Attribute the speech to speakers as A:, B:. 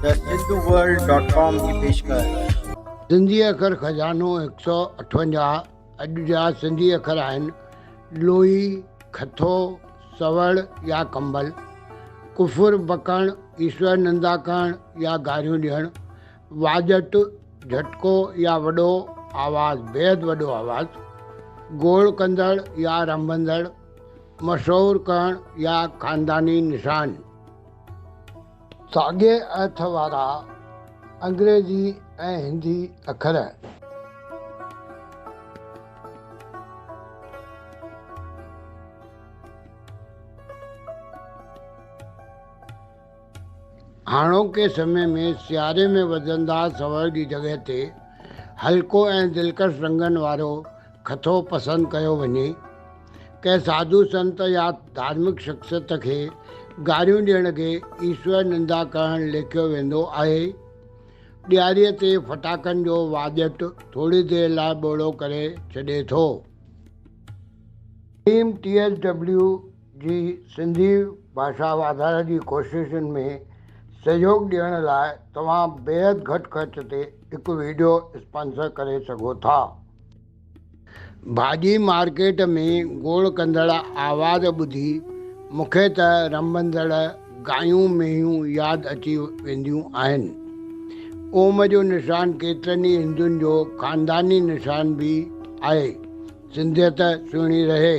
A: ته Sindhu world dot
B: com جي پيشڪش. سنڌي اکر خزانو هڪ سؤ اٺونجاهه اڄ جا سنڌي اکر آهن، لوئي، کٿو، سوڙ يا ڪنبل، ڪفر، بڪڻ، ايشور نندا ڪرڻ يا گاريون ڏيڻ، واڄٽ، جهٽڪو يا وڏو آواز، بيحد وڏو آواز، گوڙ ڪندڙ يا رنڀندڙ، مشهور ڪرڻ يا خانداني نشان. ساڳئي ايٿ وارا انگريزي ۽ هندي اکر. هاڻوڪي سمي ۾ سياري ۾ وڌندار سوئر جي جڳهه تي هلڪو ۽ دلڪش رنگن وارو کٿو پسند ڪيو وڃي. ڪنهن ساڌو سنت يا ڌارمڪ شخصيت کي گاريون ڏيڻ کي ايشور نندا ڪرڻ ليکيو ويندو آهي. ڏياريء تي ڦٽاڪن جو واڄٽ ٿوري دير لاء ٻوڙو ڪري ڇڏي ٿو. ٽيم ٽي ايس ڊبليو جي سنڌي ڀاشا واڌاري جي ڪوششن ۾ سهيوڳ ڏيڻ لاء توهان بيحد گهٽ خرچ تي هڪ وڊيو اسپانسر ڪري سگهو ٿا. ڀاڄي مارڪيٽ ۾ گوڙ ڪندڙ آواز ٻڌي مون کي ته رنڀندڙ گايون مينهيون ياد اچي وينديون آهن. اوم جو نشان ڪيترن ئي هندن جو خانداني نشان به آهي. سنڌيت سهڻي رهي.